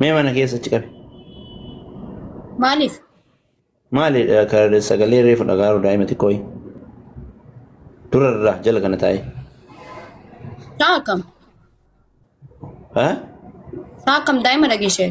Mee mana keessa achi qabi. Maaliif? Maali eh, ka- sagalee reefu dhagaaru daa'ima xiqqooyi. Dura irraa jala kana taa'e. Saa akkam? Ha? Saa akkam daa'ima dhageessee?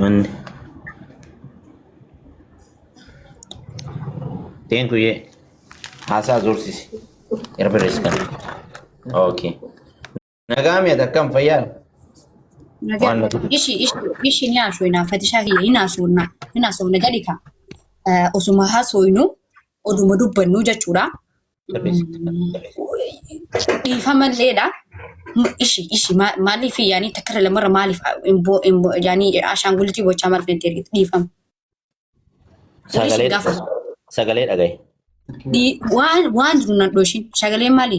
Manni. Teen kuyyee haasaa zoorsisi. Erbirees kan. Okay. Nagaa mi'a takkam fayyaa? Waan na godhu. Ishi ishi ishi ni haasofna fatishaa kiyya hin haasofna hin haasofna gadi kaa osuma haasofnu oduma dubbannu jechuudha. Dhiifamalleedha. Ishi ishi maaliif yaanii takkara lamarra maaliif imboo imboo yaanii ashaangulitii bochaa maaliif natti ergite dhiifama. Sagalee Gaafa. sagalee dhagaye. Dhi- waan waan jiru nan dhooshin sagalee maali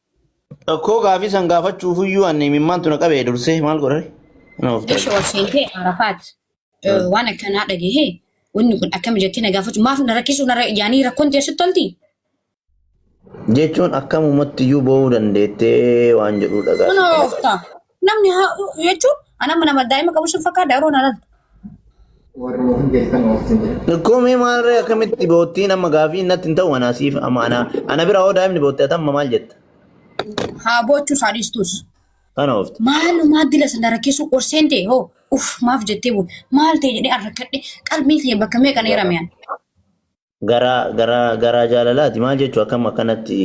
Rakkoo gaafii san gaafachuuf iyyuu anni imimmaantu na qabee dursee maal godhare? Na of Eesha ol seentee Arafaat eh, waan akkanaa dhagahee wanni kun akkami jettee na gaafachuu maaf na rakkisuu na ra- yaanii rakkoon tee sitti tolti? Jechuun akkamumatti iyyuu boo'uu dandeettee waan jedhuu dhagaa. Mana oofta. Namni haa jechuun ana mana daa'ima qabu sun fakkaata yeroo naan Koomee maalirree akkamitti boottiin amma gaafii natti hin ta'u anaa siif amma anaa ana bira hoo daa'imni boottee atamma maal jetta? haa boochuu isaa dhiistus. Kana oofte. Maalumaa dila sana rakkisuu qorseen ta'e hoo uff maaf jettee buu maal ta'e jedhee arrakkadhe qalbiin kiyya bakka meeqa na hirameen. garaa garaa garaa jaalalaati maal jechuu akkam akkanatti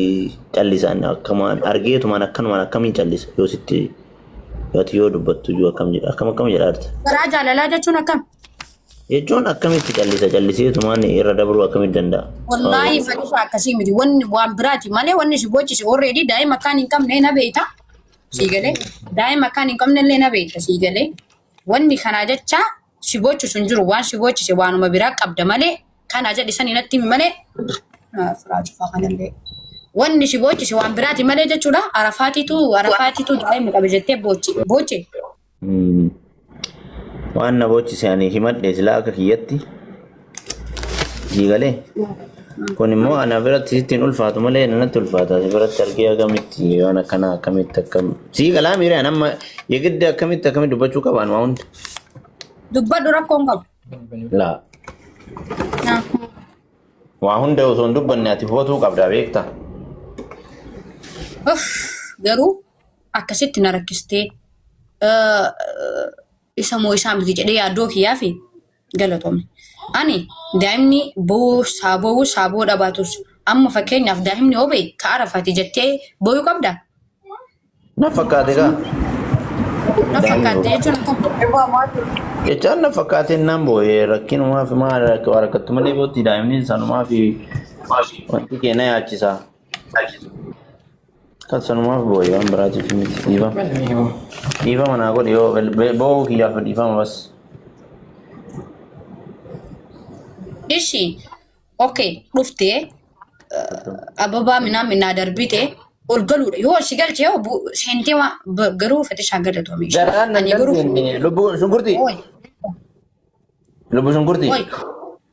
callisaan akkamaan argeetumaan akkanumaan akkamiin callisa yoo sitti yoo ati yoo dubbattu iyyuu akkam jedha akkam akkam jedhaarta Garaa jaalalaa jechuun akkam? jechuun akkamitti callisa calliseetumaan irra dabruu akkamitti danda'a Wallaahi fadhisaa akkasii miti. Wanni waan biraati malee wanni si boochise already daa'ima akkaan hin qabne na beekta. Sii galee. Daa'ima akkaan hin qabne illee na beekta sii galee. Wanni kanaa jecha si boochisu hin jiru waan si boochise waanuma biraa qabda malee kan aja dhisanii natti himi malee firaa cufaa kanallee wanni si boochise waan biraati malee jechuudha arafaatiitu arafaatiitu daa'ima qabe jettee boochi booche Waan na boochise ani himadhe silaa akka kiyyatti. Sii galee? Kun immoo ana biratti sitti hin ulfaatu malee nanatti ulfaata. Si biratti argee akkamitti waan akkanaa akkamitti akkam. Sii galaa miiree an amma yegidda akkamitti akkamitti dubbachuu qabaan waa hunda. Dubbadhu rakkoo hin qabu. Laa Naa. waa hunda osoo hin dubbanne ati hubatuu qabdaa beektaa. Uff, garuu akkasitti na rakkistee eh, isa moo isaa miti jedhee yaaddoo kiyyaa fi Galatomi. Ani daa'imni bo'uu saa bo'uu saa bo'uu dhabaatus amma fakkeenyaaf daa'imni yoo ba'e ka arafaati jettee bo'uu qabda? Na fakkaate kaa. Na fakkaate jechuun akkam? Jechaan na fakkaate naan boo'e rakkinumaa fi maal waa rakkattu malee bootti daa'imni sanumaa fi wanti kee na yaachisaa. Kan sanumaaf boo'e waan biraatiif miti dhiiba. Dhiiba manaa godhi yoo boo'uu kiyyaaf dhiifama bas. Ishi okay dhufte ababaa minaa minaa darbite ol galuudha yoo si galche yoo bu- seentee waan ba- garuu fatishaa galatoomi ishee. Garaan nan Ani garuu dandeenye lubbuu shunkurtii Ooy, lubbuu shunkurtii. ooy.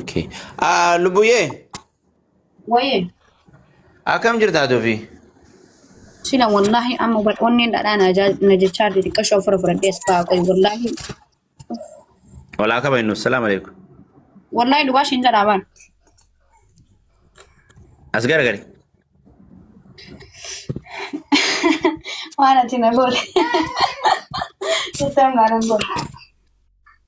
Okay. Ah, Lubuye, Wayee akkam jirtaa tufi? sila wallaahi amma bar- onneen dhadhaa na ajaa- na jechaa jirti xiqqashoo ofirra fudhadhee as ba'aa qoy wallaahi Walaa kaba innu. Salaam alaikum. wallaahi dhugaa ishiin jedhaa baan As garagari. waan ati na goole. Jettee humnaan hin goole.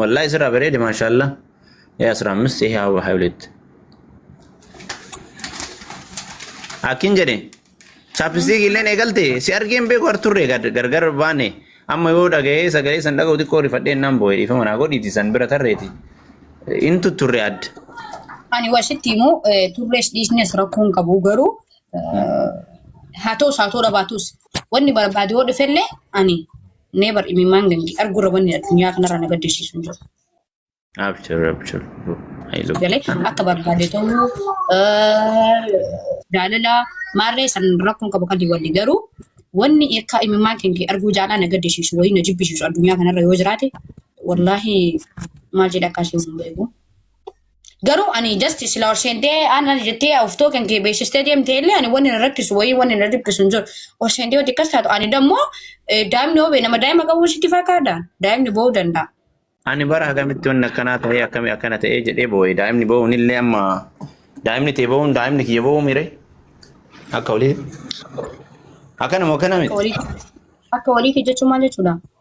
Wallahi sirraa bareede maashaallah. Yaa asirraa ammas ta'e haa waa olitti. Akkin jedhe chaapistiik illeen eegalte si argeen beeku arturre gargar baane amma yoo dhaga'ee sagalee san dhaga'u xiqqoo rifadheen naan boo'e dhiifama naa godhiiti san bira tarreeti. Inni tutturre adda. Ani wasitti immoo eh, turrees dhiisnes rakkoon qabu garuu eh, haa ta'us haa ta'uu dhabaatus wanni barbaade yoo dhufellee ani Neebar imimmaan gangi arguurra wanni addunyaa kanarra na gaddisiisu hin jiru. Abshir abshir. Hayilu. Galee akka barbaade ta'uu jaalala maarree san rakkoon qabu kan wali garuu wanni akka imimmaan kee arguu jaalaa na gaddisiisu wayii na jibbisiisu addunyaa kanarra yoo jiraate wallaahi maal jedha akkaasii hin beeku. Garuu ani just sila ol seentee ana jettee uftoo kan kee beeksistee deemtee illee ani wanni na rakkisu wayii wanni na dhiphisu hin jiru. Ol seentee wanti akkas taatu ani dammoo eh, daa'imni hoo bee nama daa'ima qabu sitti fakkaata daa'imni boo'uu danda'a. Ani bara akkamitti wanni akkanaa ta'ee akkami akkana ta'ee jedhee boo'e daa'imni boo'uun illee amma daa'imni tee boo'uun daa'imni kiyya boo'uu mire akka olii akkanuma akkana Akka miti. waliitti akka waliitti jechuun maal jechuudha?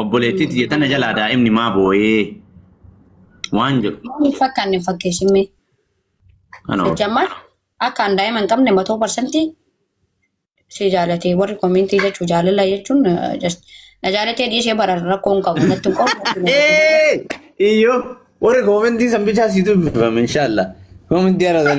Obboleettii tiyya tana jalaa daa'imni maa booyee waan jedhu. Waan hin fakkaanne fakkeessimmee. Kana oolu. Sijjammaa akka an daa'ima hin qabne matoo parsantii si jaalatee warri komintii jechuu jaalala jechuun eh, just na jaalatee dhiisee bara rakkoo hin qabu natti hin qabu. Ee! Iyyoo! Warri koomentii san bichaa sii dubbifame inshaallah. Koomentii ana san.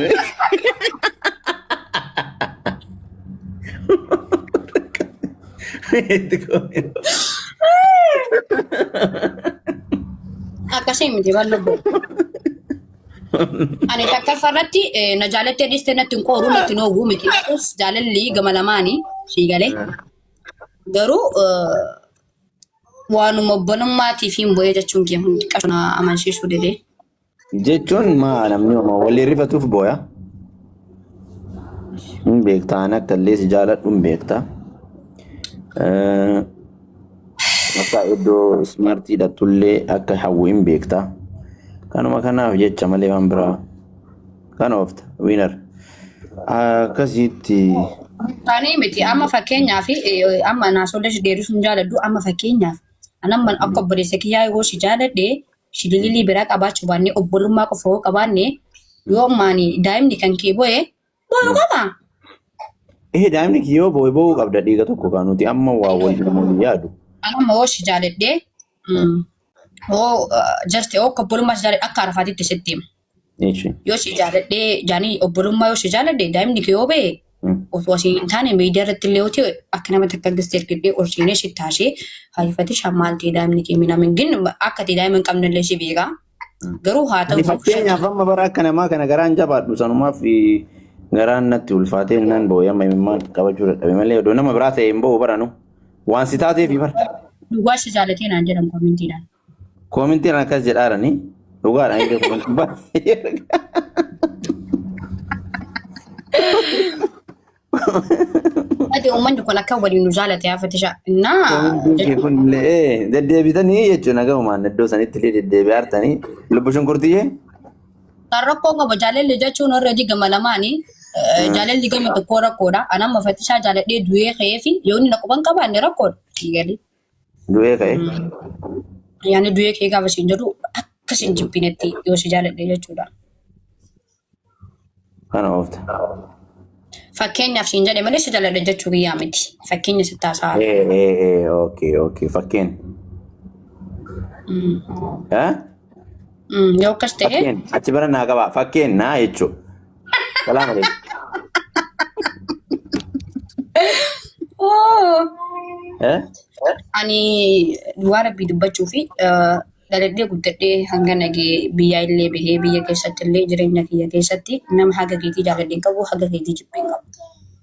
Akkasii miti waan lubbu. Ani takkaffaa irratti eh, na jaalattee dhiistee natti hin qooruu natti hin oowwuu miti. Ta'us jaalalli gama lamaanii sii galee. Garuu eh, Waanuma obbolummaatiifiin bo'ee jechuun kee hundi qashoo na amansiisuu didee. Jechuun maa namni homa walii rifatuuf booya. Hin beekta ani akka illee si jaaladhu hin beekta. Eh, Akka iddoo ismaartii dhattullee akka hawwu hin beekta. Kanuma kanaaf jecha malee waan biraa. Kan oofta wiinar. Akkasitti Taanee miti amma fakkeenyaaf eh, amma naasoolee si deebisuun jaaladhu amma fakkeenyaaf an amma akka obboleessa kiyyaa yoo si jaaladhe shilililii biraa qabaachuu baanne obbolummaa qofa yoo qabaanne yoo maani daa'imni kan kee bo'e bo'u qaba. ee daa'imni kiyyoo boo'e boo'uu qabda dhiiga tokko kan nuti amma waa wal namoonni yaadu. An amma yoo si jaaladhe mm, yoo eh, jaste yoo obbolummaa si jaaladhe akka arfaatitti sitti hima. Eeshi. Yoo si jaaladhee jaanii obbolummaa yoo si jaaladhe daa'imni kee yoo ba'e osoo asii hin taane miidiyaa irratti illee yoo ta'e akka nama takka gistee ergidhee ol seenee si taasee hariifatee shan maal ta'e daa'imni kee mina min gin akka ta'e daa'ima hin qabne illee si beekaa. Garuu haa Ani ta'u fakkeenyaaf amma bara akka namaa kana garaan jabaadhu sanumaaf eh, garaan natti ulfaatee nan boo'e amma imimmaan qabachuu dadhabe malee odoo nama biraa ta'e hin boo'u baranu waan si taateef bara. duwwaa si jaalatee naan jedhan koomentiidhaan. Koomintiin akkas jedhaarani dhugaadha inni koomintiin baay'ee Ati uummanni kun akka waliin nu jaalate yaa fatisha. Naa koomintiin kee jechuun kun illee deddeebitanii jechuudha gahumaan iddoo sanitti illee deddeebi'aartanii lubbu shunkurtiyyee kan rakkoo qaba jaalalli jechuun already gama lamaani. Eh, Jaalalli gama tokkoo rakkoodha. Ani amma fatishaa jaaladhee du'ee ka'ee fi yoonni na quban qabaanne rakkoodha. Eegalee. Du'ee ka'e. Yaani du'ee ka'e gaafa siin jedhu akka siin jibbinetti yoo si jaaladhe jechuudha. Kana oofta. Fakkeenyaaf siin jedhe malee si jaaladhe jechuu kiyyaa miti. Fakkeenya sitti haasaa. Ee ee ee ookee ookee fakkeen. Eh? Yoo akkas ta'e Fakkeen achi bara naa qabaa fakkeen naa jechuudha. Salaam alaikum. Oo. Eh? Ani duwwaa rabbii dubbachuu fi eh, dhaladhee guddadhee hanga nagee biyyaa illee bahee biyya keessatti illee jireenya kiyya keessatti nama haga keetii jaaladhee hin qabu haga keetii jibbee hin qabu.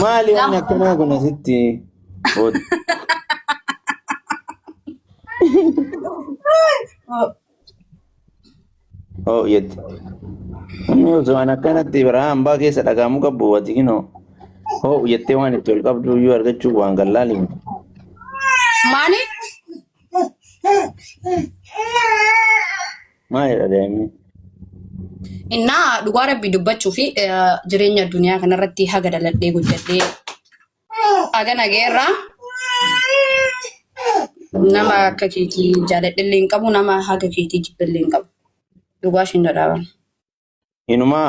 Maali wanni akkanaa kun asitti? Ood. Oo yetti. Inni osoo an akkanatti biraa hambaa keessa dhagaamuu qabu wati kinoo. Oo yettee waan itti ol qabdu iyyuu argachuu waan gallaali. Maali? Maalidha daa'imni? Innaa dhugaa rabbii dubbachuu fi eh, jireenya addunyaa kanarratti haga daladhee guddadhee haga nageerraa nama akka keetii jaaladhillee hin qabu nama haga keetii jibbillee hin qabu. Dhugaa ishiin dhadhaaban. Inumaa